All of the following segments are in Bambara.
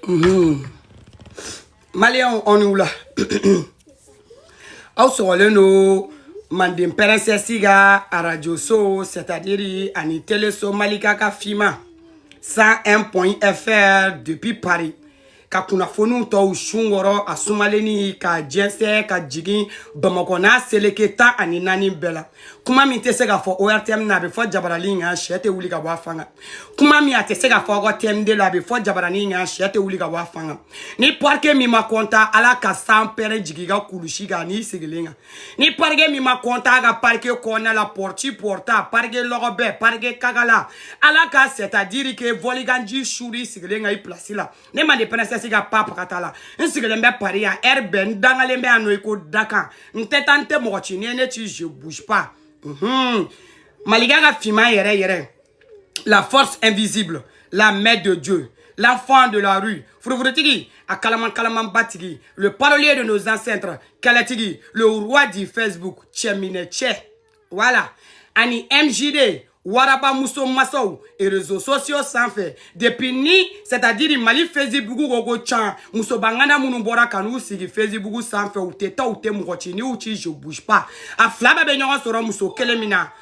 Mhm. maliyɛnw aw ni wula aw sɔgɔlen don manden pɛrɛnsɛsi ka arajo so sɛtadiri ani teleso malika ka finman 101 point fr depuis paris ka kunnafoniw tɔw sun kɔrɔ a sumalenni ka jɛnsɛ ka jigin bamakɔ n'a seleke tan ani naani bɛɛ la kuma min tɛ se ka fɔ ortm na a bɛ fɔ jabaranin kan sɛ tɛ wuli ka bɔ a fan kan kuma min a tɛ se ka fɔ aw ka tm2 la a bɛ fɔ jabaranin kan sɛ tɛ wuli ka bɔ a fan kan ni parike min ma kɔntan ala ka sanpɛrɛn jigin i ka kulusi kan n'i sigilen kan ni parike min ma kɔntan a ka parike kɔnɔna la pɔrɔti pɔrɔta parike lɔgɔ bɛɛ parike kagala ala ka sɛtadiri ke vɔliganji suri i sigilen kan i pilasi la ne manden pɛrɛnsɛsi ka pa pagata la n sigilen bɛ pari yan ɛri bɛɛ n dangalen bɛ yan nɔ i ko dakan n tɛ taa n tɛ mɔgɔ ci n'i ye ne ci je bouge pas malika ka finman yɛrɛ yɛrɛ la force invisible la main de Dieu l'enfant de la rue furufurutigi a kalaman kalamanba tigi le parolier de nos ancêtres kɛlɛtigi le roi du facebook cɛminɛ cɛ voilà ani mjd waraba muso masa réseaux sociaux sanfɛ depuis ni c'est-à-dire mali facebook ko ko can musobangana minnu bɔra ka n'u sigi facebook sanfɛ u tɛ taa u tɛ mɔgɔ ci ni u ci je bouge pas a fila bɛɛ bɛ ɲɔgɔn sɔrɔ muso kelen min na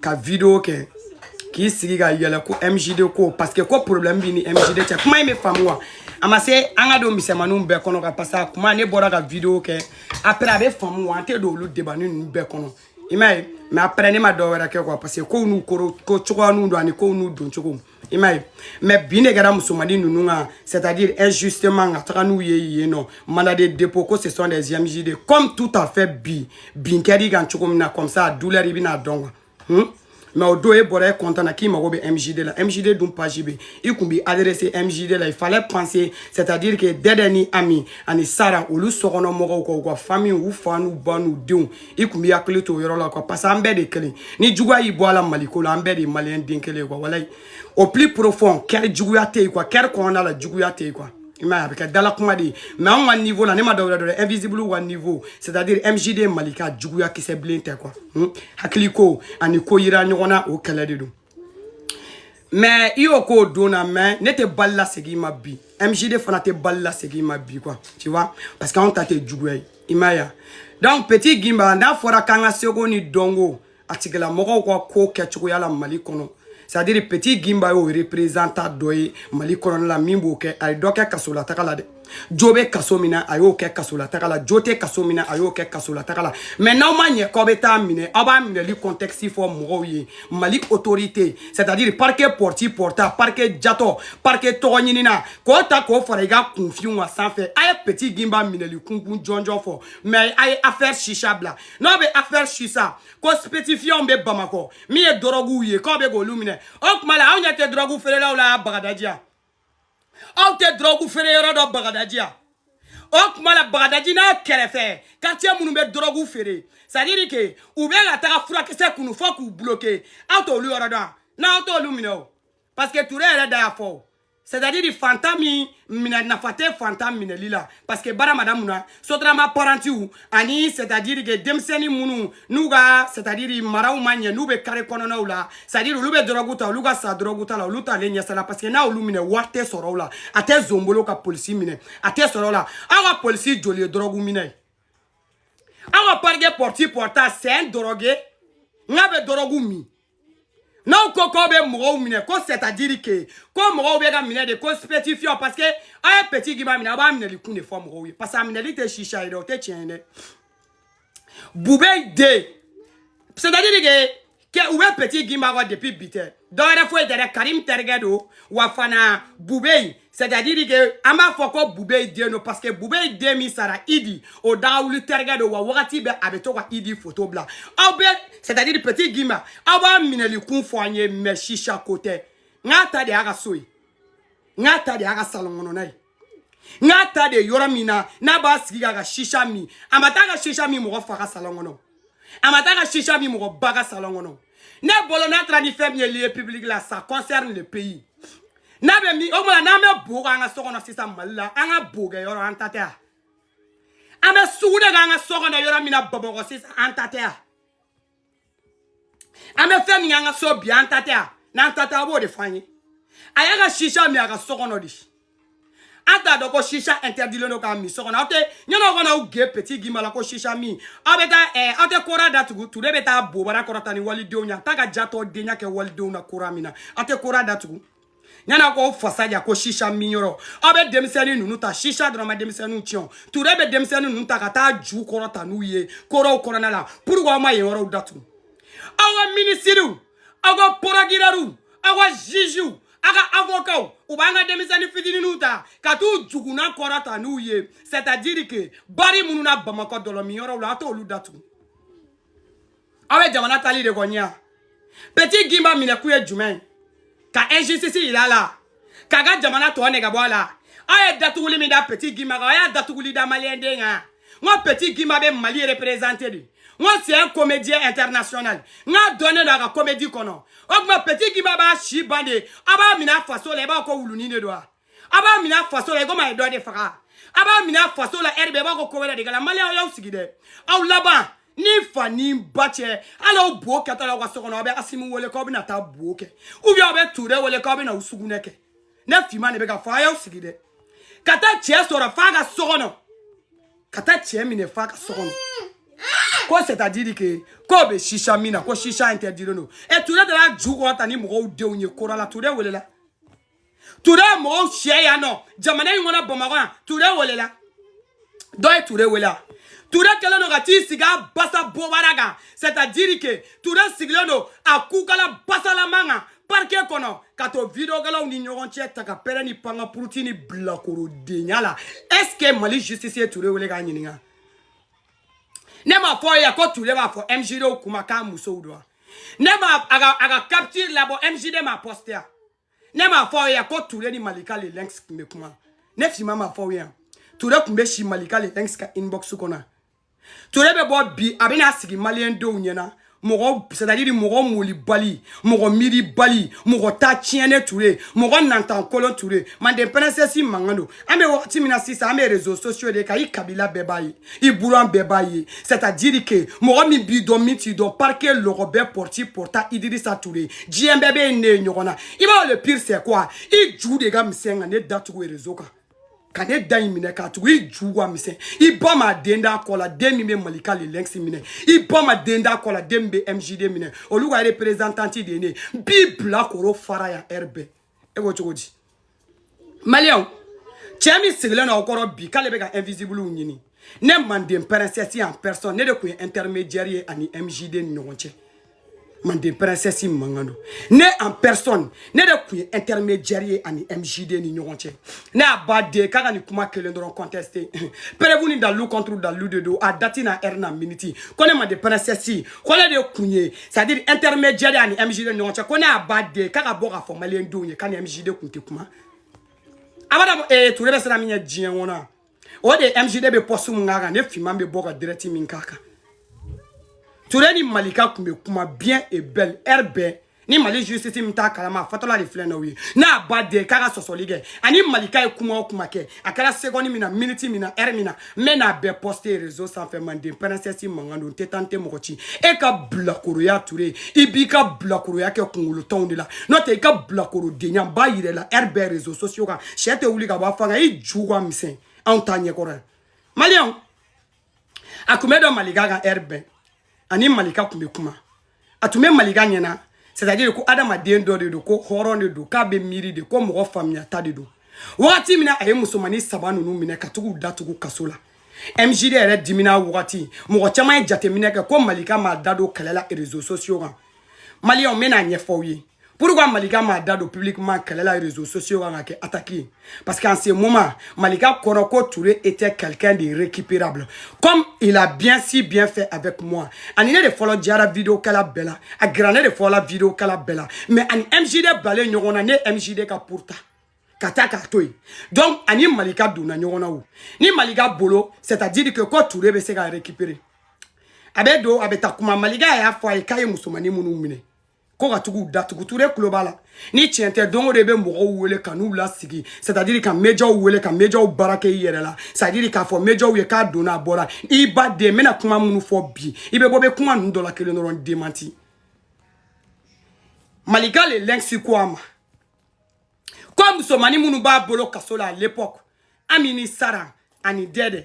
ka video kɛ k'i sigi ka yɛlɛ ko mjd ko parce que ko problème b'i ni mjd cɛ kuma in bɛ faamu wa a ma se an ka don misɛnmaninw bɛɛ kɔnɔ quoi parce que a kuma ne bɔra ka video kɛ après a bɛ faamu wa an tɛ don olu debani ninnu bɛɛ kɔnɔ i m'a ye mais après ne ma dɔ wɛrɛ kɛ quoi parce que kow n'u kɔrɔ ko cogoya n'u don ani kow n'u dɔn cogo i m'a ye mais binni kɛra musomani ninnu kan c'est à dire injustement ka taga n'u ye yen nɔ mandat de dépôt ko ce sont des mjd comme tout à fait bi bin kɛr'i kan cogo min na comme ça a douleur i bɛna dɔn quoi hmm? mais o don e bɔra e kɔntan na k'i mago bɛ mjd la mjd dun page bɛ i kun b'i adresser mjd la il fallait penser c'est à dire que dɛdɛ ni ami ani sara olu sokɔnɔ mɔgɔw ka u ka famille u fa n'u ba n'u denw i kun b'i hakili to o yɔrɔ la quoi parce que an bɛɛ de kelen ni juguya y'i bɔ a la maliko la an bɛɛ de ye maliyɛn den kelen ye quoi walayi au plus profond cœur juguya tɛ yen quoi cœur kɔnɔna la juguya tɛ yen quoi i m'a ye a bɛ kɛ dala kuma de ye mais anw ka niveau la ne ma dɔwɛrɛ dɔn invisible ka niveau c'est à dire mjd malika juguya kisɛ bilen tɛ quoi hmm? hakili ko ani ko yira ɲɔgɔn na o kɛlɛ de don mais i y'o k'o don na mais ne tɛ bali lasegin i ma bi mjd fana tɛ bali lasegin i ma bi quoi tu vois parce que anw ta tɛ juguya ye i m'a ye donc petit gimba n'a fɔra k'an ka seko ni dɔnko a tigilamɔgɔw ka ko kɛcogoya la mali kɔnɔ c'est à dire petit gimba y'o représentant dɔ ye mali kɔnɔna la min b'o kɛ a ye dɔ kɛ kasolataga la dɛ jo bɛ kaso min na a y'o kɛ kasolatagala jo tɛ kaso min na a y'o kɛ kasolatagala mɛ n'aw ma ɲɛ k'aw bɛ t'a minɛ aw b'a minɛli kɔntɛkisi fɔ mɔgɔw ye mali otorite c'est à dire parike pɔrti pɔrta parike jatɔ parike tɔgɔɲinina k'o ta k'o fara i ka kunfinya sanfɛ a ye peti ginba minɛli kunkun jɔnjɔn fɔ mɛ a ye afɛri shisha bila n'aw bɛ afɛri shisha kɔ spetifiyanw bɛ bamakɔ min ye dɔrɔguw ye k'aw bɛ k'olu minɛ o tuma la aw ɲɛ tɛ dɔrɔgu feerelaw la bagadaji yan aw tɛ dɔrɔgu feere yɔrɔ dɔn bagadaji yan o tuma la bagadaji n'a kɛrɛfɛ quartier minnu bɛ dɔrɔgu feere c'est à dire que u bɛ ka taga furakisɛ kunu fo k'u bloquer aw t'olu yɔrɔ dɔn n'aw t'olu minɛ o parce que ture yɛrɛ da y'a fɔ o c'est à dire fantan minɛ nafa tɛ fantan minɛli la parce que bara madamuw ni sotarama parantiw ani c'est à dire que denmisɛnnin minnu n'u ka c'est à dire maraw ma ɲɛ n'u bɛ kare kɔnɔnaw la c'est à dire olu bɛ dɔrɔgu ta olu ka sa dɔrɔgu ta la olu t'ale ɲɛsala parce que n'a y'olu minɛ wari tɛ sɔrɔ u la a tɛ zonbolo ka polisi minɛ a tɛ sɔrɔ la aw ka polisi joli ye dɔrɔguminna ye aw ka parike pɔrti pɔrta c'est un drogué n k'a bɛ dɔrɔgu min n'aw ko k'aw bɛ mɔgɔw minɛ ko c'est à dire que ko mɔgɔw bɛ ka minɛ de ko stupéfiant parce que aw ye petit gimba minɛ aw b'a minɛli kun de fɔ mɔgɔw ye parce que a minɛli tɛ shisha ye dɛ o tɛ tiɲɛ ye dɛ bubey den c'est à dire que k'u bɛ petit gimba kɔ depuis bi tɛ dɔwɛrɛ foyi tɛ dɛ karim terikɛ don wa fana bubey C'est à dire que an b'a fɔ ko bubey den don parce que bubey den min sara idi o da ka wuli terikɛ don wa wagati bɛɛ a bɛ to ka idi foto bila aw bɛ c'est à dire petit gimba aw b'a minɛli kun fɔ an ye mais shisha ko tɛ n k'a ta de y'a ka so ye n k'a ta de y'a ka salon kɔnɔna ye n k'a ta de yɔrɔ min na n'a b'a sigi k'a ka shisha min a ma taa ka shisha min mɔgɔ fa ka salon kɔnɔ a ma taa ka shisha min mɔgɔ ba ka salon kɔnɔ ne bolo n'a taara ni fɛn min ye lieu public là ça concerne le pays n'a b'a min o tuma n'an bɛ bo kɛ an ka so kɔnɔ sisan mali la an ka bo kɛ yɔrɔ an ta tɛ wa an bɛ sugunɛ kɛ an ka so kɔnɔ yɔrɔ min na bamakɔ sisan an ta tɛ wa an bɛ fɛn min kɛ an ka so bi an ta tɛ wa n'an ta tɛ aw b'o de fɔ an ye a y'a ka shisha min a ka so kɔnɔ de an t'a dɔn ko shisha interditlen don k'a min so kɔnɔ aw tɛ ɲɛnɛw kana aw ge petit gimba la ko shisha min aw bɛ taa ɛɛ aw tɛ kora datugu ture bɛ taa bobara kɔrɔta ni walidenw ye a t'a ka jatɔdenya kɛ walidenw na kora min na aw tɛ kora datugu ɲana ko fasa ja ko shisha min yɔrɔ aw bɛ denmisɛnnin ninnu ta shisha dɔrɔn ma denmisɛnninw tiɲɛ ture bɛ denmisɛnnin ninnu ta ka taa ju kɔrɔta n'u ye koraw kɔnɔna la pourquoi aw ma yen yɔrɔw datugu aw ka minisiriw aw ka porokirɛriw aw ka ziziw a ka avokaw u b'an ka denmisɛnnin fitininw ta ka t'u jukunan kɔrɔta n'u ye c'est à dire que bari minnu na bamakɔ dɔlɔminyɔrɔw la a t'olu datugu aw bɛ jamana tali de kɔniya petit guimba minɛkun ye jumɛn ka injustice yira a la k'a ka jamana to nege bɔ a la aw ye datuguli min da petit guimba kan aw y'a datuguli da maliyɛnden kan nka petit guimba bɛ mali représenter de nka c'est un comédien international nka dɔnnen don a ka comédie kɔnɔ o tuma petit guimba b'a si ban de a b'a minɛ a faso la i b'a ko wulunin de don wa a b'a minɛ a faso la i komi a ye dɔ de faga a b'a minɛ a faso la heure bɛɛ i b'a ko ko wɛrɛ de kɛ la maliyɛnw y'aw sigi dɛ aw laban ni fa ni ba cɛ hali aw bo kɛtɔ la aw ka so kɔnɔ aw bɛ asimi wele k'aw bɛna taa bo kɛ ou bien aw bɛ ture wele k'aw bɛna u sugunɛ kɛ ne finman de bɛ k'a fɔ a y'aw sigi dɛ ka taa cɛ sɔrɔ f'a ka so kɔnɔ ka taa cɛ minɛ f'a ka so kɔnɔ ko c'est à dire que k'o bɛ chicha min na ko chicha interdit don ɛ ture de y'a ju kɔrɔta ni mɔgɔw denw ye kora la ture welela ture ye mɔgɔw sɛ yan nɔ jamana in kɔnɔ bamakɔ yan ture welela dɔ ye ture wele wa ture kɛlen don ka t'i sigi a basa bobara kan c'est à dire que ture sigilen don a kukala basalaman kan parike kɔnɔ ka to videokɛlaw ni ɲɔgɔn cɛ ta ka pɛrɛ ni panga puruti ni bilakorodenya la est ce que mali justice ye ture wele k'a ɲininka ne m'a fɔ aw ye ko ture b'a fɔ mjd kuma k'a musow dɔn ne ma a ka capture labɔ mjd m'a poster yan ne m'a fɔ aw ye ko ture ni malika le lynx tun bɛ kuma ne finman m'a fɔ aw ye yan ture tun bɛ si malika le lynx ka inbox kɔnɔ ture bɛ bɔ bi a bɛna sigi maliyɛn denw ɲɛna mɔgɔ c'est à dire mɔgɔ molibali mɔgɔ miiribali mɔgɔ ta tiɲɛnen ture mɔgɔ nantankolon ture manden princesse mankan don an bɛ wagati min na sisan an bɛ réseaux sociaux de kan i kabila bɛɛ b'a ye i buran bɛɛ b'a ye c'est à dire que mɔgɔ min b'i dɔn min t'i dɔn parke lɔgɔ bɛɛ pɔrti pɔrta idirisa ture diɲɛ bɛɛ bɛ ne ye ɲɔgɔn na i b'a le pire c'est quoi i ju de ka misɛn ka ne datugu réseau kan ka ne da in minɛ k'a tugu i ju ka misɛn i ba ma den da kɔ la den min bɛ malika le lynx minɛ i ba ma den da kɔ la den min bɛ mjd minɛ olu ka représentante de ye ne b'i bilakoro fara yan heure bɛɛ e ko cogo di maliyɛnw cɛ min sigilen aw kɔrɔ bi k'ale bɛ ka invisible ɲini ne manden princesse en personne ne de tun ye intermédiaire ye ani mjd ni ɲɔgɔn cɛ manden princesse mankan don ne en personne ne de tun ye intermédiaire ye ani mjd ni ɲɔgɔn cɛ ne y'a ba den k'a ka nin kuma kelen dɔrɔn contester preuve ni dalilu contre dalilu de don a dati n'a heure n'a miniti ko ne manden princesse ko ne de tun ye c'est à dire intermédiaire a ni mjd ni ɲɔgɔn cɛ ko ne y'a ba den k'a ka bɔ k'a fɔ maliyɛn denw ye k'a ni mjd kun tɛ kuma abada ee ture bɛ sira min ɲɛ diɲɛ kɔnɔ o de mjd bɛ poste min k'a kan ne finman bɛ bɔ ka dirɛti min k'a kan ture ni malika kun bɛ kuma bien et belle rb ni mali justice min t'a kalama a fɔtɔla de filɛ n'aw ye n'a ba den k'a ka sɔsɔli kɛ a ni malika ye kuma o kuma kɛ a kɛra seconde min na minute min na heure min na n bɛ n'a bɛɛ poster réseau sanfɛ manden princesse mankan don n tɛ taa n tɛ mɔgɔ ci e ka bilakoroya ture i b'i ka bilakoroya kɛ kungolotɔnw de la n'o tɛ i ka bilakorodenya n b'a yira i la rb réseaux sociaux kan sɛ tɛ wuli ka bɔ a fan kan i ju ka misɛn anw ta ɲɛkɔrɔ yan maliyɛnw a tun bɛ don malika kan rb a ni malika kun bɛ kuma a tun bɛ malika ɲɛna c'est à dire ko adamaden dɔ de don ko hɔrɔn de don k'a bɛ miiri de ko mɔgɔ faamuyata de don wagati min na a ye musomannin saba ninnu minɛ ka tugu datugu kaso la mjd yɛrɛ dimina wagati mɔgɔ caman ye jateminɛ kɛ ko malika m'a da don kɛlɛ la réseaux sociaux kan maliyɛnw n bɛn'a ɲɛfɔ aw ye pourquoi malika m'a da don publiquement kɛlɛ la réseaux sociaux kan ka kɛ attaquer parce qu'en ce moment malika kɔrɔ ko ture était quelqu'un de récupérable comme il a bien si bien fait avec moi a ni ne de fɔlɔ diyara vidéo kɛla bɛɛ la a gɛrɛ ne de fɔlɔ la vidéo kɛla bɛɛ la mais a ni mjd bilalen ɲɔgɔn na ne ye mjd ka pour ta ka taa k'a to yen donc a ni malika donna ɲɔgɔn na o ni malika bolo c'est à dire que ko ture bɛ se ka récupérer a bɛ don a bɛ taa kuma malika y'a fɔ a ye k'a ye musomannin minnu minɛ ko ka tugu datugu ture kulo b'a la ni tiɲɛ tɛ don o don i bɛ mɔgɔw wele ka n'u lasigi c'est à dire ka médiaw wele ka médiaw braquer i yɛrɛ la c'est à dire k'a fɔ médiaw ye k'a donna a bɔra i ba den n bɛna kuma minnu fɔ bi i bɛ bɔ i bɛ kuma ninnu dɔ la kelen dɔrɔn démentir malika le lynx ko a ma ko musomannin minnu b'a bolo kaso la à l'époque ami ni sara ani dɛdɛ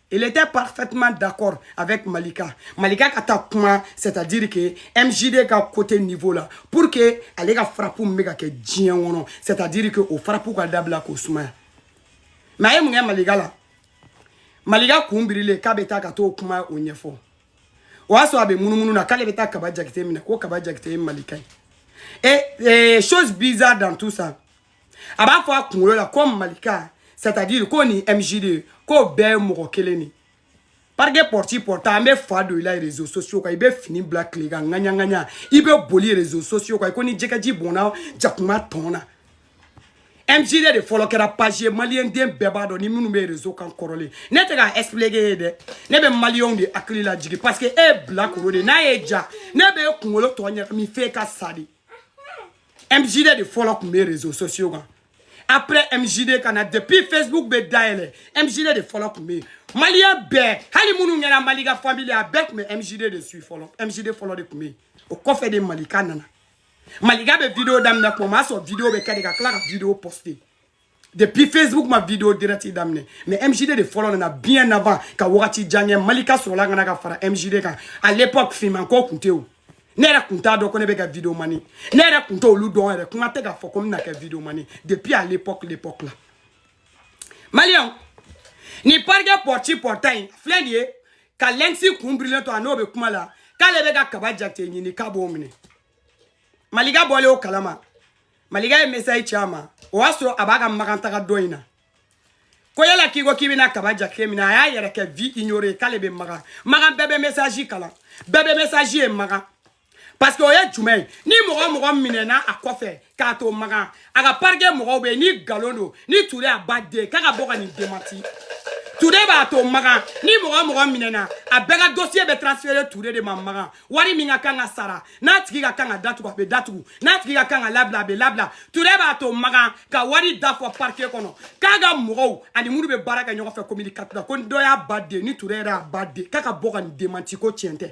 Il était parfaitement d'accord avec Malika. Malika ka taa kuma c'est-à-dire que MJD ka côté niveau la pour que ale ka frappe min bɛ ka kɛ diɲɛ kɔnɔ c'est-à-dire que o frappe ka dabila k'o sumaya mais a ye mun kɛ Malika la Malika kun birilen k'a bɛ taa ka t'o kuma o ɲɛfɔ o y'a sɔrɔ a bɛ munumunu na k'ale bɛ taa kaba jakite minɛ ko kaba jakite ye Malika ye et, et chose bizarre dans tout ça a b'a fɔ a kunkolo la ko malika c'est à dire k'o ni mjd k'o bɛɛ ye mɔgɔ kelen ye parce que pɔrɔti pɔrɔta n bɛ fa don i la rezo sosiyo kan i bɛ fini bila tile kan ŋaɲaŋaɲa i bɛ boli rezo sosiyo kan i ko ni jɛgɛji bɔnna jakuma tɔn na mjd de fɔlɔ kɛra page ye maliyɛn den bɛɛ b'a dɔn ni minnu bɛ rezo kan kɔrɔlen ne tɛ k'a expliquer e ye dɛ ne bɛ maliyɛnw de hakili la jigin parce que e ye bilakoro de n'a ye ja ne bɛ e kunkolo tɔ ɲagami f'e ka sa de MJD de fɔlɔ tun bɛ réseaux sociaux kan après MJD ka na depuis Facebook bɛ dayɛlɛ MJD de fɔlɔ tun bɛ yen maliyɛn bɛɛ hali minnu kɛra Malika famille a bɛɛ tun bɛ MJD de suit fɔlɔ MJD fɔlɔ de tun bɛ yen o kɔfɛ de Malika nana Malika bɛ vidéo daminɛ tuma min o y'a sɔrɔ vidéo bɛ kɛ de ka tila ka vidéo poster depuis facebook ma video direct daminɛ mais mjd de fɔlɔ nana bien avant ka wagati jan kɛ malika sɔrɔla ka na ka fara mjd kan à l'époque finman ko kun tɛ o ne yɛrɛ kun t'a dɔn ko ne bɛ kɛ video mani ne yɛrɛ kun t'olu dɔn yɛrɛ kuma tɛ k'a fɔ ko n bɛna kɛ video mani depuis à l'époque l'époque la maliyɛnw nin parikɛ pɔriti pɔrita in filɛ nin ye ka lɛnkisi kun birilen to a n'o bɛ kuma la k'ale bɛ ka kaba jakite ɲini k'a b'o minɛ Malika bɔlen o kalama Malika ye message ci a ma o y'a sɔrɔ a b'a ka makantaga dɔ in na ko yala k'i ko k'i bɛna kaba jakite minɛ a y'a yɛrɛ kɛ vu ignoré k'ale bɛ makan makan bɛɛ bɛ message kalan bɛɛ bɛ message ye makan parce que o ye jumɛn ye ni mɔgɔ mɔgɔ minɛna a kɔfɛ k'a to makan a ka parike mɔgɔw bɛ ni nkalon don ni ture a ba den k'a ka bɔ ka nin demanti ture b'a to makan ni mɔgɔ mɔgɔ minɛna a bɛɛ ka dosiye bɛ transfere ture de ma makan wari min ka kan ka sara n'a tigi ka kan ka datugu a bɛ datugu n'a tigi ka kan ka labila a bɛ labila ture b'a to makan ka wari da fɔ parike kɔnɔ k'a ka mɔgɔw ani minnu bɛ baara kɛ ɲɔgɔn fɛ kominikatɛri ko dɔ y'a ba den ni ture yɛrɛ y'a ba den k'a ka bɔ ka nin demanti ko tiɲɛ tɛ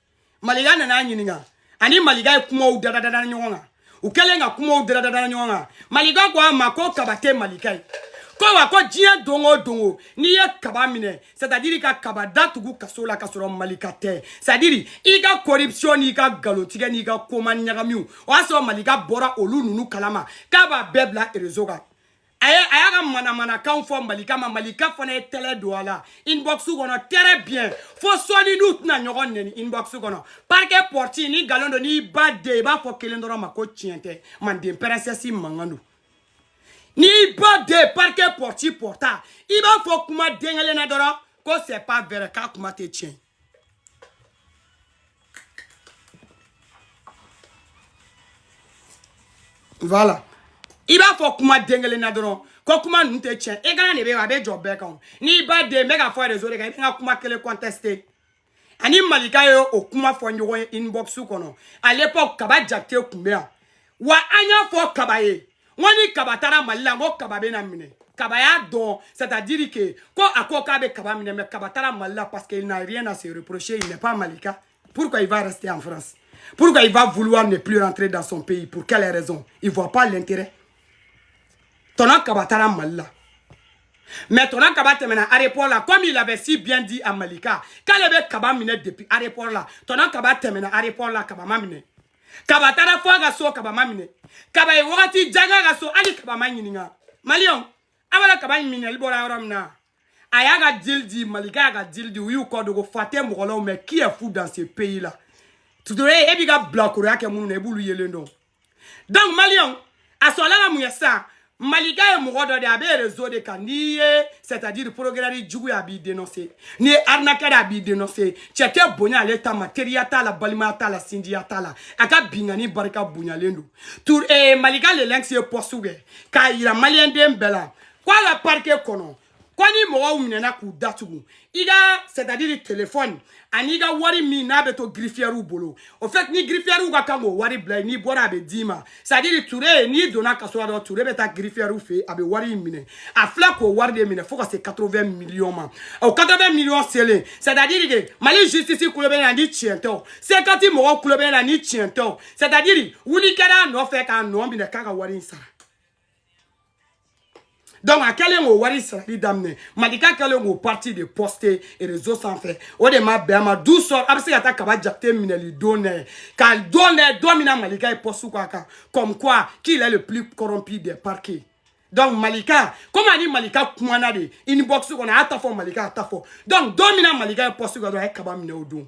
malika nana a ɲininka ani malika ye kumaw dadadada ɲɔgɔn kan u kɛlen ka kumaw dadadada ɲɔgɔn kan malika ko a ma ko kaba tɛ malika ye ko wa ko diɲɛ don o don o n'i ye kaba minɛ c'est à dire ka kaba datugu kaso la ka sɔrɔ malika tɛ c'est à dire i ka corruption n'i ka nkalontigɛ n'i ka kuma ɲagamiw o y'a sɔrɔ malika bɔra olu ninnu kalama k'a b'a bɛɛ bila erezo kan a ye a y'a ka manamanakanw fɔ malika ma malika fana ye tɛlɛ don a la inbox kɔnɔ très bien fo sɔɔni n'u tɛna ɲɔgɔn nɛni inbox kɔnɔ parquet porte ni nkalon don n'i ba den i b'a fɔ kelen dɔrɔn ma ko tiɲɛ tɛ manden pɛrɛnsɛsi mankan don n'i ba den parquet porte porta i b'a fɔ kuma den kelen na dɔrɔn ko c'est pas vrai k'a kuma tɛ tiɲɛ ye Voilà. i b'a fɔ kuma den kelen na dɔrɔn ko kuma ninnu tɛ tiɲɛ ye kana de bɛ a bɛ jɔ bɛɛ kan n'i ba den bɛ ka fɔ rezo de kan i bɛ ka kuma kelen conteste a ni malika ye o kuma fɔ ɲɔgɔn ye inbox kɔnɔ à l'époque kaba jakite tun bɛ yan wa an y'a fɔ kaba ye n ko ni kaba taara mali la n ko kaba bɛna minɛ kaba y'a dɔn c'est à dire que ko a ko k'a bɛ kaba minɛ mais kaba taara mali la parce que il n'a rien à se reprocher il n'est pas malika pourquoi il va rester en france pourquoi il va vouloir ne plus rentrer dans son pays pour quelle raison il voit pas l'intérêt tonton kaba taara mali la mais tonton kaba tɛmɛna aéroport la comme il avait si bien dit à malika k'ale bɛ kaba minɛ depuis aéroport la tonton kaba tɛmɛna aéroport la kaba ma minɛ kaba taara fo a ka so kaba ma minɛ kaba ye wagati jan k'a ka so hali kaba ma ɲininka maliyɛnw a b'a la kaba minɛli bɔra yɔrɔ min na a y'a ka dili di malika y'a ka dili di u y'u kɔ dogo fa tɛ mɔgɔ la mais qui est fou dans ce pays là ture e b'i ka bilakoroya kɛ minnu na i b'olu yelen dɔn donc maliyɛnw a sɔrɔla mun ye sa malika ye mɔgɔ dɔ de a bɛ rezo de kan n'i ye c'est à dire procureur jugu ye a b'i denonse n'i ye arnaqueur a b'i denonse cɛ tɛ bonya ale ta ma teriya t'a la balimaya t'a la sinjiya t'a la a ka binkanni barika bonyalen don ture malika le lynx ye poste kɛ k'a yira maliyɛnden bɛɛ la ko a ka parquet kɔnɔ ko ni mɔgɔw minɛna k'u datugu i ka c'est à dire telefɔni an'i ka wari min n'a bɛ to girifiyɛriw bolo au fait ni girifiyɛriw ka kan k'o wari bila n'i bɔra a bɛ d'i ma c'est à dire ture n'i donna kaso la dɔrɔn ture bɛ taa girifiyɛriw fɛ a bɛ wari in minɛ a filɛ k'o wari de minɛ fo ka se 80 miliyɔn ma o 80 miliyɔn selen c'est à dire que mali justice kulo bɛ na ni tiɲɛ tɛ o sekati mɔgɔw kulo bɛ na ni tiɲɛ tɛ o c'est à dire wuli kɛra a nɔfɛ k'a nɔ minɛ k'a ka wari in sara donc a kɛlen k'o wari sarali daminɛ malika kɛlen k'o partie de poste réseau sanfɛ o de ma bɛn a ma du sɔrɔ a bɛ se ka taa kaba jate minɛli don nɛ ka don nɛ don min na malika ye poste k'a kan comme quoi qu'il est le plus corrompu des parquets donc malika komi a ni malika kumana de inbox kɔnɔ a y'a ta fɔ malika y'a ta fɔ donc don min na malika ye poste kɛ dɔrɔn a ye kaba minɛ o don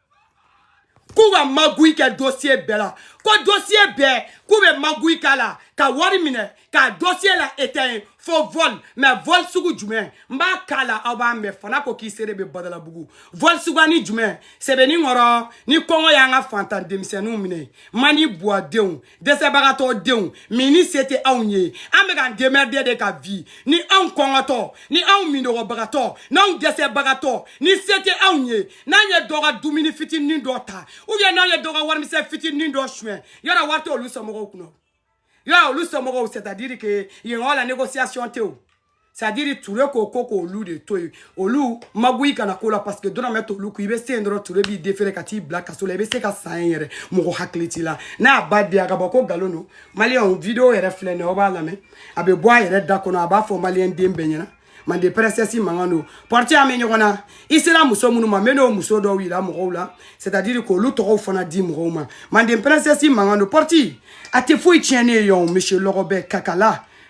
k'u bɛ magouille kɛ dosiye bɛɛ la ko dosiye bɛɛ k'u bɛ magouille k'a la ka wari minɛ k'a dosiye la éteint fo vol mais vol sugu jumɛn n b'a k'a la aw b'a mɛn fana ko k'i sere bɛ badalabugu vol sugunin jumɛn sɛbɛnni kɔrɔ ni kɔngɔ y'an ka faantan denmisɛnninw minɛ mandi buwadenw dɛsɛbagatɔ denw min ni se tɛ anw ye an bɛ k'an démerder de ka vi ni anw kɔngɔtɔ ni anw minnɔgɔbagatɔ n'anw dɛsɛbagatɔ ni se tɛ anw ye n'an ye dɔ ka dumuni fitinin dɔ ta ou bien n'an ye dɔ ka warimisɛn fitinin dɔ suɲɛ yɔrɔ wari tɛ olu somɔgɔw kun yɔrɔ olu somɔgɔw c'est à dire que yen yɔrɔ la négociation tɛ o c'est à dire ture ko ko k'olu de to yen olu magouille kana k'o la parce que dɔrɔmɛ t'olu kun i bɛ se yen dɔrɔn ture b'i defere ka t'i bila kaso la i bɛ se ka san ye yɛrɛ mɔgɔ hakili t'i la n'a b'a di a ka bɔ ko nkalon don maliyɛnw video yɛrɛ filɛ nin ye aw b'a lamɛn a bɛ bɔ a yɛrɛ da kɔnɔ a b'a fɔ maliyɛn den bɛɛ ɲɛna mande princesse mankan don pɔrɔti an bɛ ɲɔgɔn na i sera muso minnu ma n bɛ n'o muso dɔw yira mɔgɔw la c'est à dire k'olu tɔgɔw fana di mɔgɔw ma mande princesse mankan don pɔrɔti a tɛ foyi tiɲɛ ne ye yan o monsieur lɔgɔbɛ kakala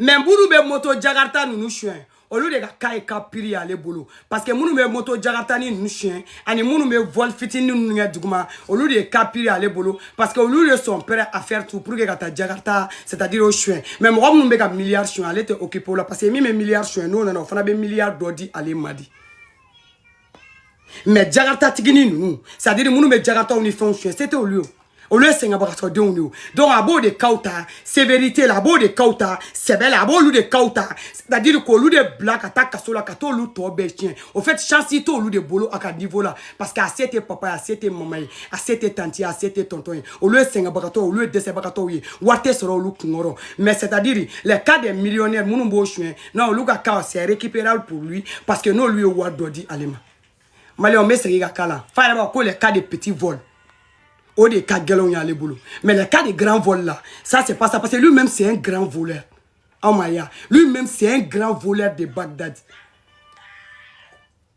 mais minnu bɛ moto jakarita ninnu suɲɛ olu de ka cas ye cas pire y'ale bolo parce que minnu bɛ moto jakaritanin ninnu suɲɛ ani minnu bɛ vol fitinin ninnu kɛ duguma olu de ye cas pire y'ale bolo parce que olu de sont prêts à faire tout pour que ka taa jakarta c'est à dire o suɲɛ mais mɔgɔ minnu bɛ ka milliard suɲɛ ale tɛ occupe o la parce que min bɛ milliard suɲɛ n'o nana o fana bɛ milliard dɔ di ale ma di mais jagatatigini ninnu c'est à dire minnu bɛ jagataw ni fɛnw suɲɛ se tɛ olu ye olu ye sɛgɛnbagatɔdenw de ye donc a b'o de kaw ta sévérité la a b'o de kaw ta sɛbɛ la a b'olu de kaw ta c'est à dire k'olu de bila ka taa kaso la ka t'olu tɔ bɛɛ tiɲɛ au fait chance t'olu de bolo a ka niveau la parce que a se tɛ papa ye a se tɛ mama ye a se tɛ tanti ye a se tɛ tɔntɔn ye olu ye sɛgɛnbagatɔ olu ye dɛsɛbagatɔw ye wari tɛ sɔrɔ olu kunkɔrɔ mais c'est à dire les cas des millionnaires minnu b'o suɲɛ non olu ka cas c'est récupérable pour lui parce que n'olu ye wari dɔ di ale ma maliyɛn n bɛ segin ka k'a la fa yɛrɛ b'a ko les cas de petit vol o de ka gɛlɛnw y'ale bolo mais les cas de grand vol là ça c'est pas ça parce que lui même c'est un grand voleur aw m'a ye lui même c'est un grand voleur de Bagdad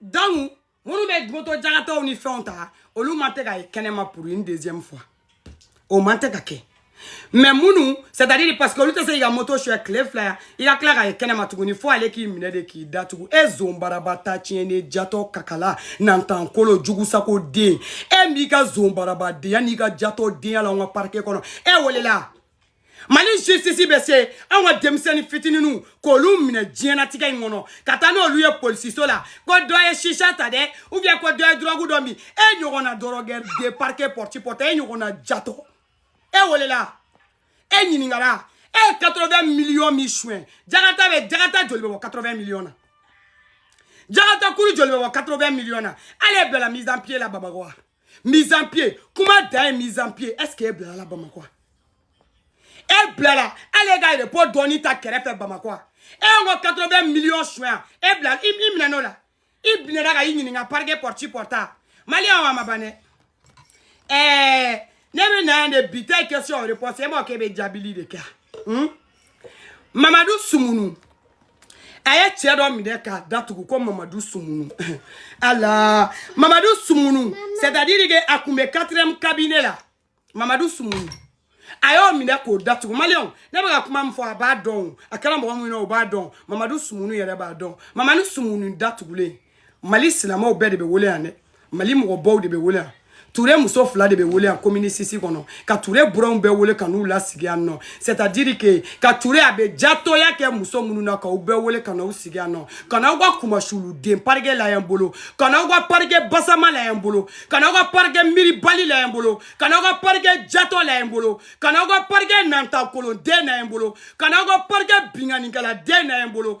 donc minnu bɛ moto jagataw ni fɛnw ta olu ma tɛ ka ye kɛnɛma pour une deuxième fois o man tɛ ka kɛ mais minnu c'est à dire parce que olu tɛ se k'i ka moto suyɛ tile fila i ka tila ka ye kɛnɛma tuguni fo ale k'i minɛ de k'i datugu e zonbaraba ta tiɲɛnen jatɔ kakala nantankolo jugusako den e m'i ka zonbarabadenya n'i ka jatɔ denya la an ka parike kɔnɔ e welela mali justice bɛ se anw ka denmisɛnnin fitininw k'olu minɛ diɲɛnatigɛ in kɔnɔ ka taa n'olu ye polisiso la ko dɔ ye chicha ta dɛ ou bien ko dɔ ye dɔrɔgu dɔ min e ɲɔgɔnna drogué de parike pɔrti pɔtɔ e ɲɔgɔnna jatɔ e welela e ɲininkala e ye 80 miliyɔn min suɲɛ jagata bɛ jagata joli bɛ bɔ 80 miliyɔn na jagata kulu joli bɛ bɔ 80 miliyɔn na ale bilala mise en pied la bamakɔ wa mise en pied kuma dan ye mise en pied est ce que e bilala bamakɔ e bilala hali e ka repos dɔɔni ta kɛrɛfɛ bamakɔ e y'an ka 80 millions suɲɛ e bilala i minɛn'o la i minɛna ka i ɲininka parike pɔriti pɔrta maliyɛnw a ma ban dɛ ɛɛ ne bɛ na yan de bi ta ye question réponse e m'o k'e bɛ jaabili de kɛ yan. mamadu sumunu a ye cɛ dɔ minɛ k'a datugu ko mamadu sumunu ala mamadu sumunu c'est à dire que a tun bɛ quatrième cabinet la mamadu sumunu a y'o minɛ k'o datugu maliyɛnw ne bɛ ka kuma min fɔ a b'a dɔn o a kɛra mɔgɔ minnu na o b'a dɔn mamadu sumunu yɛrɛ b'a dɔn mamadu sumunu datugulen mali silamɛw bɛɛ de bɛ wele yan dɛ mali mɔgɔbaw de bɛ wele yan ture muso fila de bɛ wele yan komini sisi kɔnɔ ka ture buranw bɛɛ wele ka n'u lasigi yan nɔ c'est à dire que ka ture a bɛ jatɔya kɛ muso minnu na k'a bɛɛ wele ka n'u sigi yan nɔ ka n'anw ka kumasuluden parike la yan bolo ka n'anw ka parike basama la yan bolo ka n'anw ka parike miiribali la yan bolo ka n'anw ka parike jatɔ la yan bolo ka n'anw ka parike nantakolonden na yan bolo ka n'anw ka parike binkannikɛladen na yan bolo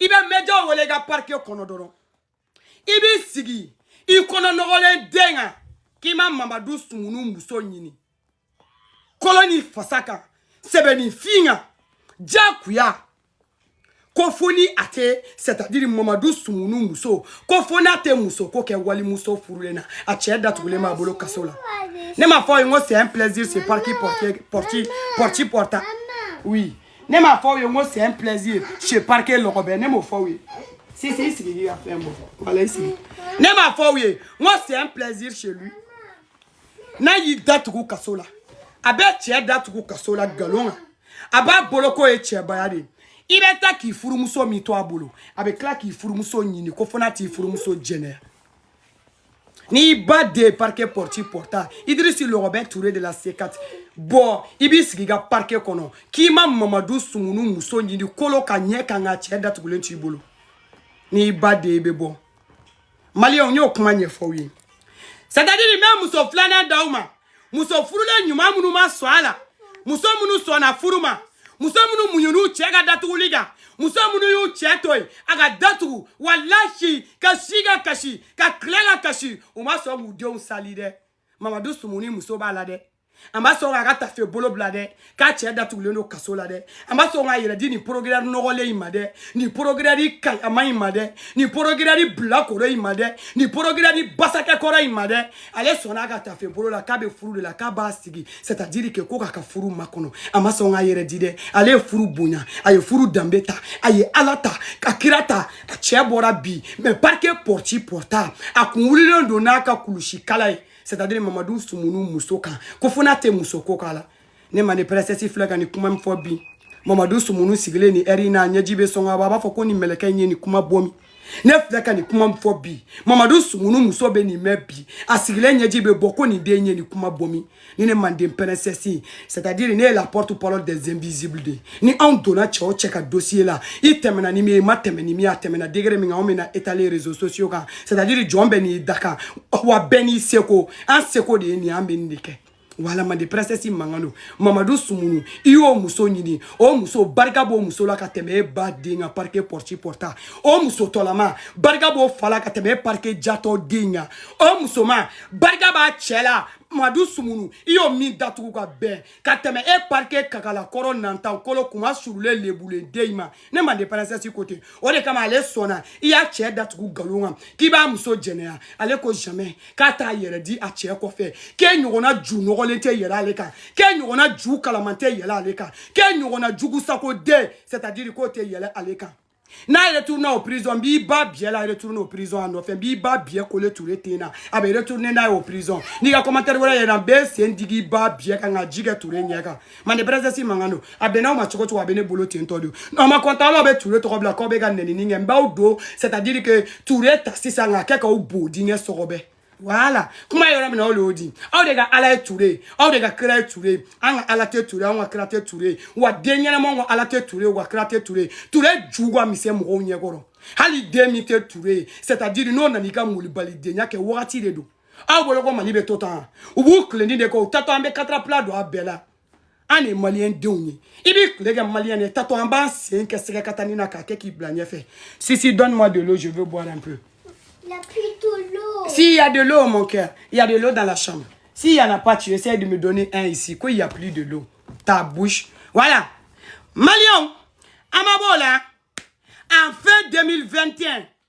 i bɛ mɛjɔ wele i ka parike kɔnɔ dɔrɔn i b'i sigi i kɔnɔ nɔgɔlen den kan k'i ma mamadu sumunu muso ɲini kolo ni fasa kan sɛbɛnninfin kan diyagoya ko fo ni a tɛ c'est à dire mamadu sumunu muso ko fo n'a tɛ muso ko kɛ walimuso furulen na a cɛ datugulen b'a bolo kaso la ne m'a fɔ aw ye n ko c'est un plaisir chez parquet porti porta oui ne m'a fɔ aw ye n ko c'est un plaisir chez parquet lɔgɔbɛ ne m'o fɔ aw ye sisi i sigi k'i ka fɛn bɔ wala i sigi ne m'a fɔ aw ye n ko c'est un plaisir chez lui n'a y'i datugu kaso la a bɛ cɛ datugu kaso la nkalon kan a b'a bolo k'o ye cɛbaya de ye i bɛ taa k'i furumuso min to a bolo a bɛ tila k'i furumuso ɲini ko fo n'a t'i furumuso jɛnɛ n'i ba de parquet porti porta idirisi lɔgɔbɛ ture de la c quatre bɔ i b'i sigi i ka parquet kɔnɔ k'i ma mamadu sumunu muso ɲini kolo ka ɲɛ kan k'a cɛ datugulen t'i bolo n'i ba de bɛ bɔ maliyɛnw n y'o kuma ɲɛfɔ aw ye c'est à dire n bɛ muso filanan d'aw ma muso furulen ɲuman minnu ma sɔn a la muso minnu sɔnna furu ma muso minnu muɲunu cɛ ka datuguli kan muso minnu y'u cɛ to yen a ka datugu walahi ka si ka kasi ka tile ka kasi u ma sɔn k'u denw sali dɛ mamadu sumunu muso b'a la dɛ a ma sɔn k'a ka tafe bolo bila dɛ k'a cɛ datugulen don kaso la dɛ a ma sɔn k'a yɛrɛ di nin procureur nɔgɔlen in ma dɛ nin procureur kayama in ma dɛ nin procureur bilakoro in ma dɛ nin procureur basakɛkɔrɔ in ma dɛ ale sɔnna a ka tafe bolo la k'a bɛ furu de la k'a b'a sigi c'est-à-dire que ko k'a ka furu makɔnɔ a ma sɔn k'a yɛrɛ di dɛ ale ye furu bonya a ye furu danbe ta a ye ala ta ka kira ta a cɛ bɔra bi mais parke pɔrti pɔrta a kun wulilen don n'a ka kulusi kala ye c'est-à-dire mamadu sumunu muso kan ko fo n'a tɛ muso ko k'a la ne manden princesse filɛ ka nin kuma min fɔ bi mamadu sumunu sigilen nin ɛri in na ɲɛji bɛ sɔn ka bɔ a b'a fɔ ko nin mɛlɛkɛ in ye nin kuma bɔ min ne filɛ ka nin kuma min fɔ bi mamadu sumunu muso bɛ nin mɛn bi a sigilen ɲɛji bɛ bɔ ko nin den ye nin kuma bɔ min ni ne manden princesse c'est à dire ne ye la porte parole des invisibles de ye ni anw donna cɛ o cɛ ka dossier la i tɛmɛna ni min ye i ma tɛmɛ ni min ye a tɛmɛna degré min kan anw bɛna étaler réseaux sociaux kan c'est à dire jɔn bɛɛ n'i dakan wa bɛɛ n'i seko an seko de ye nin ye an bɛ nin de kɛ wala mande princesse mankan don mamadu sumunu i y'o muso ɲini o muso barika b'o muso la ka tɛmɛ e ba den kan parike pɔrti pɔrta o muso tɔlama barika b'o fa la ka tɛmɛ e parike jatɔ den kan o musoman barika b'a cɛ la mamadu sumunu i y'o min datugu ka bɛn ka tɛmɛ e parike kakalakɔrɔ nantan kolo kuma surulen lebulen den in ma ne mande princesse ko tɛ o de kama ale sɔnna i y'a cɛ datugu nkalon kan k'i b'a muso jɛnɛya ale ko jamais k'a t'a yɛrɛ di a cɛ kɔfɛ k'e ɲɔgɔnna ju nɔgɔlen tɛ yɛlɛ ale kan k'e ɲɔgɔnna ju kalaman tɛ yɛlɛ ale kan k'e ɲɔgɔnna jugusako den c'est à dire k'o tɛ yɛlɛ ale kan n'a retourne au prison n b'i ba biyɛ la retourne au prison a nɔfɛ n b'i ba biyɛ kole ture ten na a bɛ retourne n'a ye au prison n'i ka commentaire wɛrɛ yɛrɛ n bɛ sen digi i ba biyɛ kan ka ji kɛ ture ɲɛ kan mande princesse mankan don a bɛnna aw ma cogo o cogo a bɛ ne bolo ten tɔ de n'aw ma kɔntan aw bɛ ture tɔgɔ bila k'aw bɛ ka nenini kɛ n b'aw don c'est à dire que ture ta sisan k'a kɛ k'aw bo dingɛ sɔgɔbɛ voilà kuma yɔrɔ min na aw de y'o di aw de ka ala ye ture ye aw de ka kira ye ture ye an ka ala tɛ ture an ka kira tɛ ture ye wa den ɲɛnamaw ka ala tɛ ture ye wa kira tɛ ture ye ture ju ka misɛn mɔgɔw ɲɛkɔrɔ hali den min tɛ ture ye c'est à dire n'o nana i ka molibalidenya kɛ wagati de don aw bolo ko mali bɛ to tan u b'u tilendi de kɛ u tatɔ an bɛ katarapila don a bɛɛ la an de maliyɛn denw ye i b'i tile kɛ maliyɛn de tatɔ an b'an sen kɛ sɛgɛ ka tanni na k'a kɛ k'i bila ɲɛfɛ sisi donne moi de l'eau je veux boire un peu Il y a plus de l'eau. S'il y a de l'eau, mon cœur, il y a de l'eau dans la chambre. S'il n'y en a pas, tu essaies de me donner un ici. Quoi, il n'y a plus de l'eau. Ta bouche. Voilà. maliyɛnw, aw ma bɔ o la, en fin 2021,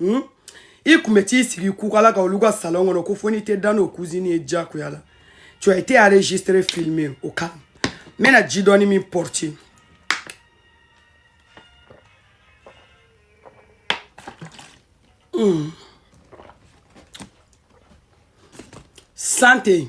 hmm? i kun bɛ t'i sigi kukala kan olu ka salon kɔnɔ ko fo n'i tɛ da n'o kuzini ye diyagoya la tu as été enregistré filmé au calme n bɛna ji dɔɔni min porte hmm. santé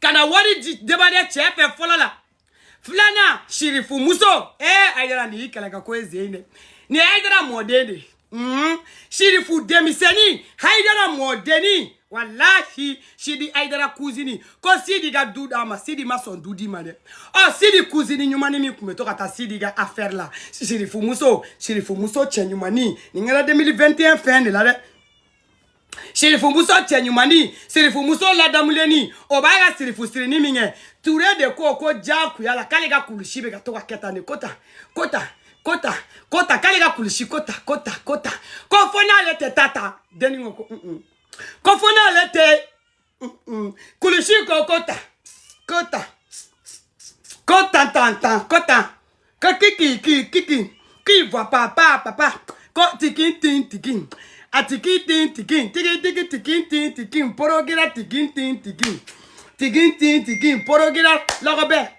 ka na wari di debade cɛ fɛ fɔlɔ la filanan sirifu muso ee ayidara nin y'i kɛlɛ ka kuzini dɛ nin ayidara mɔden de ye sirifu denmisɛnnin ayidara mɔdenni walahi sidi ayidara kuzini ko sidi ka du d'a ma sidi ma sɔn du di ma dɛ ɔ sidi kuzini ɲumanni min tun bɛ to ka taa sidi ka afɛri la sirifu muso sirifu muso cɛ ɲumanni nin kɛra 2021 fin de la dɛ sirifumuso cɛɲumani sirifumuso ladamulenni o b'a ka sirifu sirini min kɛ ture de ko ko diyagoya la k'ale ka kulusi bɛ ka to ka kɛ tan de ko tan ko tan ko tan ko tan k'ale ka kulusi ko tan ko tan ko tan ko fo n'ale tɛ taa ta denni ko ko ko fo n'ale tɛ mm, mm. kulishiko kota kota kota tanta kota kakiki kiki kiki kiva papa papa ko tiki tin tiki atiki tin tiki tiki tiki tiki tin tiki porogira tiki tin tiki tiki tin tiki porogira lọgọbẹ.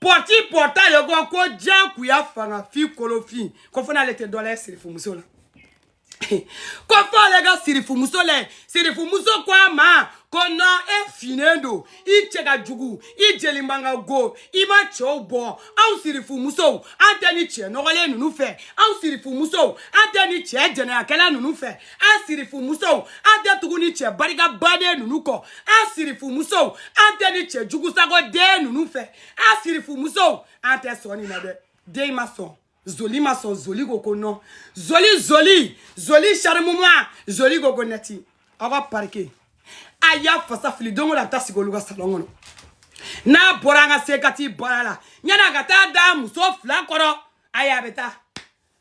pɔti pɔta ye ko ko diyagoya fanga fin kolofin ko fo n'ale tɛ dɔ lajɛ sirifumuso la ko fo ale ka sirifumuso lɛ sirifumuso ko a ma ko non e finnen don i cɛ ka jugu i jeli man ka go i ma cɛw bɔ anw sirifumusow an tɛ ni cɛ nɔgɔlen ninnu fɛ anw sirifumusow an tɛ ni cɛ jɛnɛyakɛla ninnu fɛ an sirifumusow an tɛ tugu nin cɛ barika bannen ninnu kɔ an sirifumusow an tɛ nin cɛ jugusagoden ninnu fɛ an sirifumusow an tɛ sɔn nin na dɛ den ma sɔn zoli ma sɔn zoli ko ko nɔn zoli zoli zoli sarimuma zoli ko ko nɛti aw ka parike a y'a fasa fili don o don a bɛ taa sigi olu ka salɔn kɔnɔ n'a bɔra an ka sekati baara la yanni a ka taa da muso fila kɔrɔ ayi a bɛ taa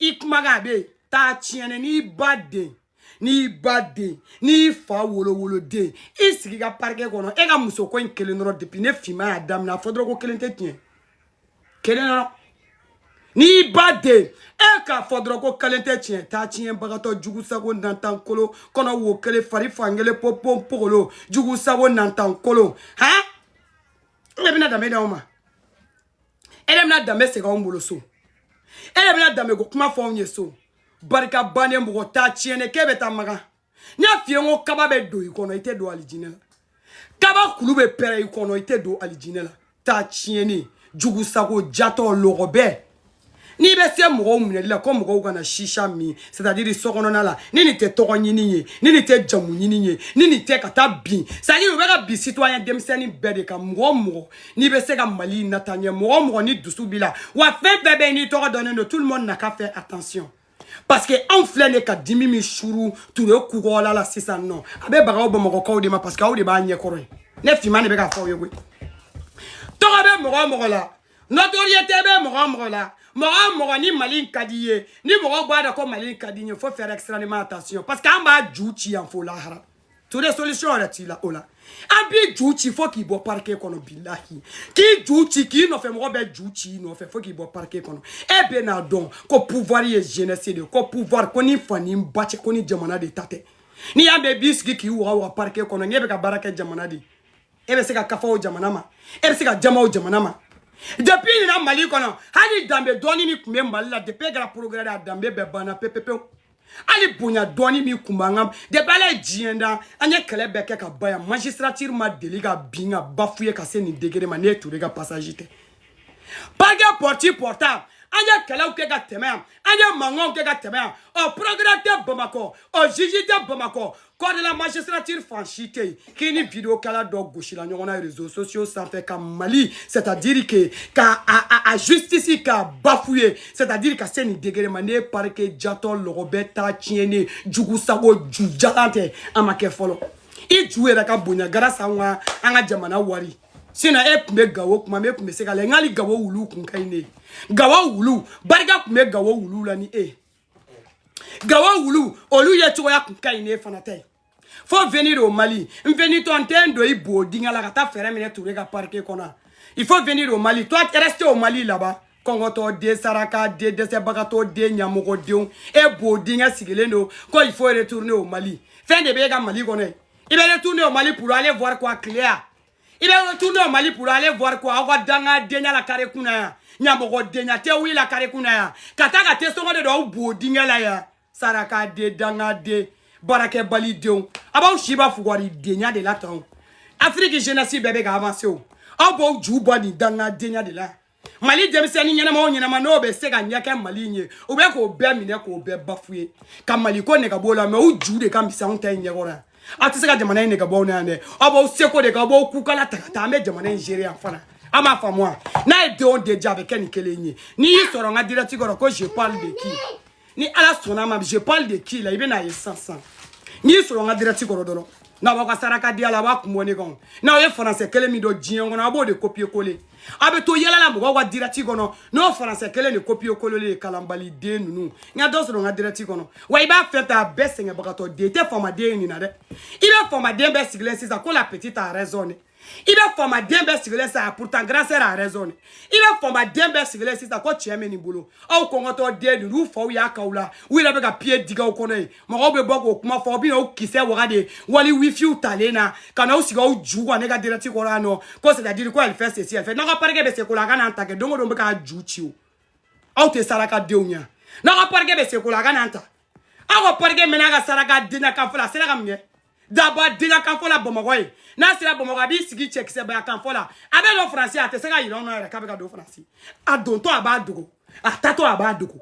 i kumakan bɛ taa tiɲɛni n'i ba den n'i ba den n'i fa wolowoloden i sigi i ka parike kɔnɔ e ka muso ko in kelen dɔrɔn depuis ne finman y'a daminɛ a fɔ dɔrɔn ko kelen tɛ tiɲɛ kelen dɔrɔn n'i ba den e k'a fɔ dɔrɔn ko kelen tɛ tiɲɛ taa tiɲɛbagatɔ jugu sago nantan kolo kɔnɔ wo kelen fari fan kelen popon pogolo jugu sago nantan kolo han e bɛna danbe d'anw ma e de bɛna danbe segin anw bolo so e de bɛna danbe ko kuma fɔ anw ye so barika bannen mɔgɔ taa tiɲɛnen k'e bɛ taa makan n y'a f'i ye n ko kaba bɛ don i kɔnɔ i tɛ don alijinɛ la kaba kulu bɛ pɛrɛn i kɔnɔ i tɛ don alijinɛ la taa tiɲɛnen jugusago jatɔ lɔgɔbɛ n'i bɛ se mɔgɔw minɛli la ko mɔgɔw kana shisha min c'est à dire so kɔnɔna la ni nin tɛ tɔgɔ ɲini ye ni nin tɛ jamu ɲini ye ni nin tɛ ka taa bin c'est à dire u bɛ ka bin citoyen denmisɛnnin bɛɛ de kan mɔgɔ o mɔgɔ n'i bɛ se ka mali nataa ɲɛ mɔgɔ o mɔgɔ ni dusu b'i la wa fɛn o fɛn bɛ yen n'i tɔgɔ dɔnnen don tout le monde n'a qu'à faire attention parce que anw filɛ nin ye ka dimi min suuru ture kunkolo la sisan nɔ a bɛ baga aw bamakɔkaw de ma parce que aw de b'a ɲɛkɔrɔ ye ne finman de bɛ k'a fɔ aw ye koyi tɔgɔ bɛ mɔgɔ o mɔgɔ la notoriété bɛ mɔgɔ o mɔgɔ la mɔgɔ o mɔgɔ ni mali in ka di ye ni mɔgɔw b'a dɔn ko mali in ka di ye faut faire extrêmement attention parce que an b'a ju ci yan fo lahara ture solution yɛrɛ t'i la o la an b'i ju ci fo k'i bɔ parike kɔnɔ bilahi k'i ju ci k'i nɔfɛ mɔgɔ bɛɛ ju ci i nɔfɛ fo k'i bɔ parike kɔnɔ e bɛn'a dɔn ko pouvoir ye jeunesse de ye ko pouvoir ko n'i fa n'i ba cɛ ko ni jamana de ta tɛ n'i y'a mɛn i b'i sigi k'i waga waga parike kɔnɔ n'e bɛ ka baara kɛ jamana de e bɛ se ka kafa o jamana ma e bɛ se ka jama o jamana ma depuis nin na mali kɔnɔ hali danbe dɔɔni min tun bɛ mali la depuis e kɛra procureur de ye a danbe bɛɛ banna pepepewu hali bonya dɔɔni min kun b'an kan depuis ala ye diɲɛ da an ye kɛlɛ bɛɛ kɛ ka ban yan magistrature ma deli ka bin ka bafouer ka se nin degré ma ni e ture ka passage tɛ parke porti portable an ye kɛlɛw kɛ ka tɛmɛ yan an ye mankanw kɛ ka tɛmɛ yan ɔ procureur tɛ bamakɔ ɔ juge tɛ bamakɔ corps de la magistrature fan si tɛ yen k'i ni videokɛla dɔ gosila ɲɔgɔn na réseaux sociaux sanfɛ ka mali c'est à dire que ka a, a, a justice ka bafouer c'est à dire ka se nin degré ma ni e parike jatɔ lɔgɔbɛ ta tiɲɛnen jugu sago ju jalan tɛ a ma kɛ fɔlɔ i ju yɛrɛ ka bonya grâce à an ka an ka jamana wari sinon e tun bɛ gawo kuma min e tun bɛ se ka la n k'ali gawo wuluw kun ka ɲi n'e ye gawo wuluw barika tun bɛ gawo wuluw la ni e ye gawo wulu olu ye cogoya kun ka ɲi ne fana tɛ faut venir au mali n venitɔ n tɛ n don i bo dingɛ la ka taa fɛɛrɛ minɛ ture ka parquet kɔnɔ il faut venir au mali toi reste au mali là-bas kɔngɔtɔ den saraka den dɛsɛbagatɔ den ɲamɔgɔdenw e bo dingɛ sigilen don ko il faut retourner au mali fɛn de b'e ka mali kɔnɔ ye i bɛ retourner au mali pour aller voir quoi clair i bɛ retourner au mali pour aller voir quoi aw ka danga denya la kare kunna yan ɲamɔgɔ denya tɛ wuli la kare kunna yan ka taa ka te sɔngɔ de don aw bo dingɛ la yan saraka den danga den baarakɛbali denw aw b'aw si ban fugari denya de la tan afiriki jeunesse bɛɛ bɛ ka avancer o aw b'aw ju ban nin danga denya de la mali denmisɛnnin ɲɛnamaw ɲɛnama n'o bɛ se ka ɲɛkɛ mali in ye u bɛ k'o bɛɛ minɛ k'o bɛɛ bafouer ka mali ko nɛgɛ b'o la mais u ju de ka misɛn anw ta in ɲɛkɔrɔ yan aw tɛ se ka jamana in nɛgɛ b'an na yan dɛ aw b'aw seko de kɛ aw b'aw kukala ta ka taa an bɛ jamana in gérer yan fana aw m'a faamu wa n'a ye denw déjà a bɛ kɛ nin kelen ye n'i y'i sɔrɔ n ka dirɛti kɔrɔ ko je parle de qui ni ala sɔnna ma je parle de qui là i bɛn'a ye sisan sisan n'i sɔrɔ n ka dirɛti kɔrɔ dɔrɔn n'a b'aw ka saraka denya la a b'a kun bɔ ne kan n'aw ye faransɛ kelen min dɔn diɲɛ kɔnɔ a b'o de kopiye kole a bɛ to yɛlɛ la mɔgɔw ka dirɛti kɔnɔ n'o faransɛ kelen de kopiye kolelen ye kalanbali den ninnu n ka dɔ sɔrɔ n ka dirɛti kɔnɔ wa i b'a fɛn fɛ a bɛɛ sɛgɛnbagatɔ den i tɛ faamaden ye nin na dɛ i bɛ faamaden bɛɛ sigilen sisan ko la petite a raison dɛ i bɛ faamaden bɛɛ sigilen sa pourtant grande sœur a raison dɛ i bɛ faamaden bɛɛ sigilen sisan ko tiɲɛ bɛ nin bolo aw kɔngɔtɔ den ninnu u faw y'a k'aw la u yɛrɛ bɛ ka piye digi aw kɔnɔ yen mɔgɔw bɛ bɔ k'o kuma fɔ aw bɛ n'aw kisɛ waga de wali wifiw talen na ka n'aw sigi aw ju kan ne ka dirɛti kɔrɔ yan nɔ ko c'est à dire ko elle fait ceci elle fait n'aw ka parike bɛ se ko la a ka n'an ta kɛ don o don bɛ k'a ju ci o aw tɛ saraka denw ɲɛ n'aw ka parike bɛ se ko la a ka n'an ta aw ka parike mɛnna a ka saraka denya kanfɔ la a sera ka mun kɛ daba denya kanfɔ la bamakɔ yen n'a sera bamakɔ a b'i sigi cɛkisɛbaya kanfɔ la a bɛ don faransi a tɛ se k'a yira anw na yɛrɛ k'a bɛ ka don faransi a dontɔ a b'a dogo a taatɔ a b'a dogo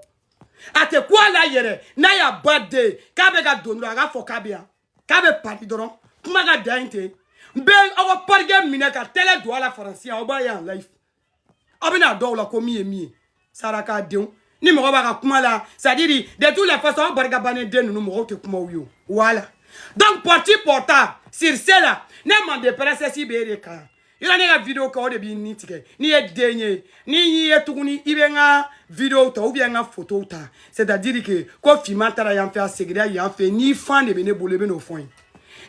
a tɛ kun a la yɛrɛ n'a y'a ba den k'a bɛ ka don dɔrɔn a k'a fɔ k'a bɛ yan k'a bɛ paris dɔrɔn kuma ka dan ye ten n bɛ aw ka parikɛ minɛ ka tɛlɛ don a la faransi aw b'a ye en live aw bɛn'a dɔn là ko min ye min ye saraka denw ni mɔgɔ b'a ka kuma la c'est à dire de toutes les façons aw barika bannen den ninnu mɔgɔw tɛ kumaw ye o wala donc porti porta sur cela ne mande pɛrɛsɛsi bɛ e de kan yɔrɔ ne ka video kɛ o de b'i ni tigɛ n'i ye den ye n'i y'i ye tuguni i bɛ n ka video ta ou bien n ka fotow ta c'est à dire que ko finman taara yan fɛ a segira yan fɛ n'i fan de bɛ ne bolo i bɛ n'o fɔ n ye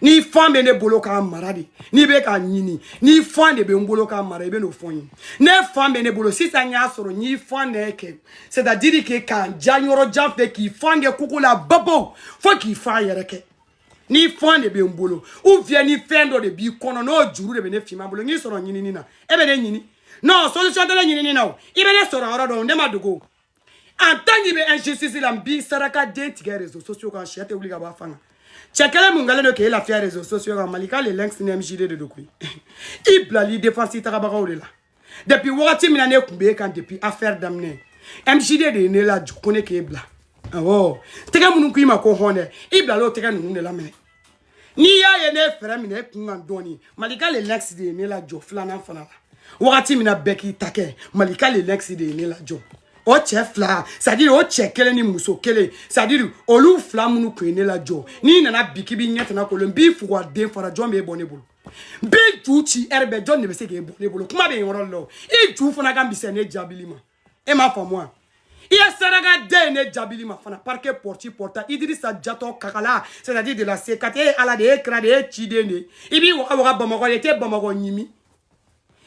n'i fan bɛ ne bolo k'a mara de n'i bɛ k'a ɲini n'i fan de bɛ n bolo k'a mara i bɛ n'o fɔ n ye ne fan bɛ ne bolo sisan n y'a sɔrɔ n y'i fan de kɛ c'est à dire que k'a ja yɔrɔ jan fɛ k'i fan kɛ koko la babaw fo k'i fan yɛrɛ kɛ n'i fan de bɛ n bolo ou bien ni fɛn dɔ de b'i kɔnɔ n'o juru de bɛ ne finman bolo n y'i sɔrɔ ɲinini na e bɛ ne ɲini non solution tɛ ne ɲinini na o i bɛ ne sɔrɔ yɔrɔ dɔn ne ma dogo en tant qu'i bɛ injustice la n b'i saraka den tigɛ réseaux sociaux kan cɛ tɛ wuli ka bɔ a fan kan cɛ kelen mun kɛlen don k'e lafiya réseaux sociaux kan malika le lynx ni mjd de don koyi i bilal'i défense tagabagaw de la depuis wagati min na ne tun b'e kan depuis affaire daminɛ mjd de ye ne lajɔ ko ne k'e bila awɔ tɛgɛ minnu k'i ma ko hɔn dɛ i bilala o tɛgɛ ninnu de la minɛ n'i y'a ye ne ye frein minɛ e kun kan dɔɔni malika le lynx de ye ne lajɔ filanan fana la wagati min na n bɛ k'i ta kɛ malika le lynx de ye ne lajɔ o cɛ fila c'est à dire o cɛ kelen ni muso kelen c'est à dire olu fila minnu tun ye ne lajɔ n'i nana bi k'i b'i ɲɛ tana kolon n b'i fugu a den fara jɔn b'e bɔ ne bolo n b'i ju ci ɛri bɛɛ jɔn de bɛ se k'e bɔ ne bolo kuma bɛ yen yɔrɔ la o i ju fana ka misɛn ne jaabili ma e m'a faamu wa i ye saraka den ye ne jaabili ma fana parike pɔrɔti pɔrɔta idirisa jatɔ kakala c'est à dire de la c4 e ye ala de ye kira de ye ciden de i b'i waga waga bamakɔ i tɛ bamakɔ ɲimi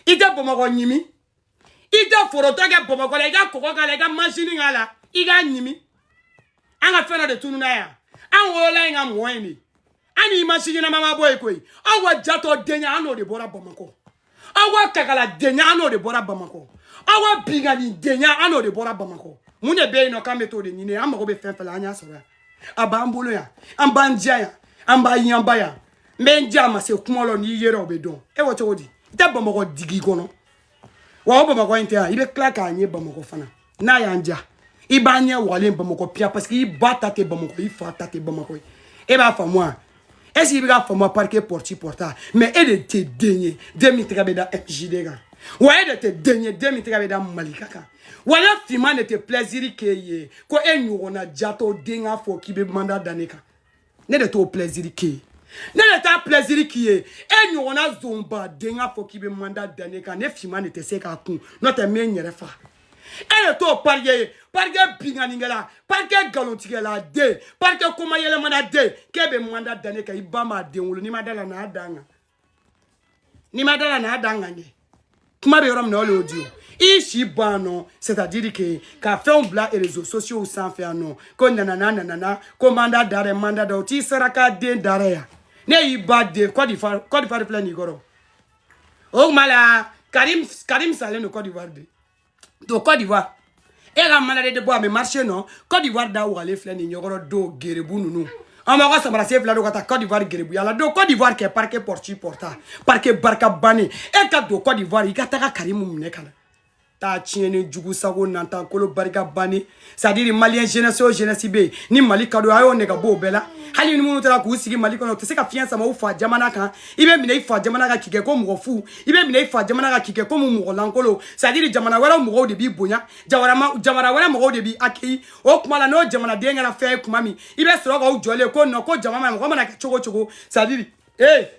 i tɛ bamakɔ ɲimi i tɛ foroto kɛ bamakɔ la i ka kɔgɔ k'a la i ka majini k'a la i k'a ɲimi an ka fɛn dɔ de tununa yan an wolola yen ka mɔ yen de an ni maa si ɲɛnama ma bɔ yen koyi aw ka jatɔ denya an n'o de bɔra bamakɔ aw ka kakala denya an n'o de bɔra bamakɔ aw ka binkanni denya an n'o de bɔra bamakɔ mun de bɛ yen nɔ k'an bɛ t'o de ɲini an mago bɛ fɛn fɛn la an y'a sɔrɔ yan a b'an bolo yan an b'an diya yan an b'a yanba yan n bɛ n diya a ma se kuma la n'i yera o bɛ dɔn e ko cogo di i tɛ bamakɔ digi kɔnɔ wa o bamakɔ in tɛ yan i bɛ tila k'a ɲɛ bamakɔ fana n'a y'an diya i ba ɲɛ wagalen bamakɔ piyan parce que i ba ta tɛ bamakɔ i fa ta tɛ bamakɔ ye e b'a faamu wa est ce que i bɛ k'a faamu parike pɔrɔti pɔrɔta mais e de tɛ den ye den min tɛgɛ bɛ da mjd kan wa e de tɛ den ye den min tɛgɛ bɛ da malika kan wa ne finman de tɛ plaisir k'e ye ko e ɲɔgɔnna jatɔ den k'a fɔ k'i bɛ mandat da ne kan ne de t'o plaisir k'i ye ne de t'a plaisir k'i ye e ɲɔgɔnna zonba den ka fɔ k'i bɛ mandat da ne kan ne finman de tɛ se k'a kun n'o tɛ n bɛ n yɛrɛ faga e de t'o parike ye parike binkannikɛla parike nkalontigɛla den parike komayɛlɛmana den k'e bɛ mandat da ne kan i ba m'a den wolo n'i ma d'a la n'a da n kan n'i ma d'a la n'a da n kan kɛ kuma bɛ yɔrɔ min na o de y'o di o i si bɔ yan nɔ c'est à dire que ka fɛnw bila réseaux sociaux sanfɛ yan nɔ ko nanana nanana ko mandat d'arrêt mandat da o t'i saraka den d'arrêt yan ne y'i ba den Côte d'Ivoire filɛ nin i kɔrɔ o tuma la Karim salen don Côte d'Ivoire de don Côte d'Ivoire e ka mandat d'arrêt de bɔ a bɛ marché nɔ Côte d'Ivoire da wagalen filɛ nin i ɲɛ kɔrɔ don garibu ninnu an b'aw ka sabara sen fila don ka taa Côte d'Ivoire garibuya la don Côte d'Ivoire kɛ parquet porti porta parquet barika bannen e ka don Côte d'Ivoire i ka taga karimu minɛ ka na taa tiɲɛni jugu sago nantan kolo barika bannen c'est à dire maliyɛn jeunesse o jeunesse bɛɛ ni mali ka don a y'o nɛgɛ bɔ o bɛɛ la hali ni minnu taara k'u sigi mali kɔnɔ u tɛ se ka fiɲɛ sama u fa jamana kan i bɛ minɛ i fa jamana kan k'i kɛ ko mɔgɔ fu i bɛ minɛ i fa jamana kan k'i kɛ komi mɔgɔ lankolon c'est à dire jamana wɛrɛ mɔgɔw de b'i bonya jamana wɛrɛ mɔgɔw de b'i accueilli o tuma la n'o jamanaden kɛra fɛn ye tuma min i bɛ sɔrɔ k'aw jɔlen ko nɔ ko jamana mɔgɔ mana kɛ cogo cogo c'est à dire ee.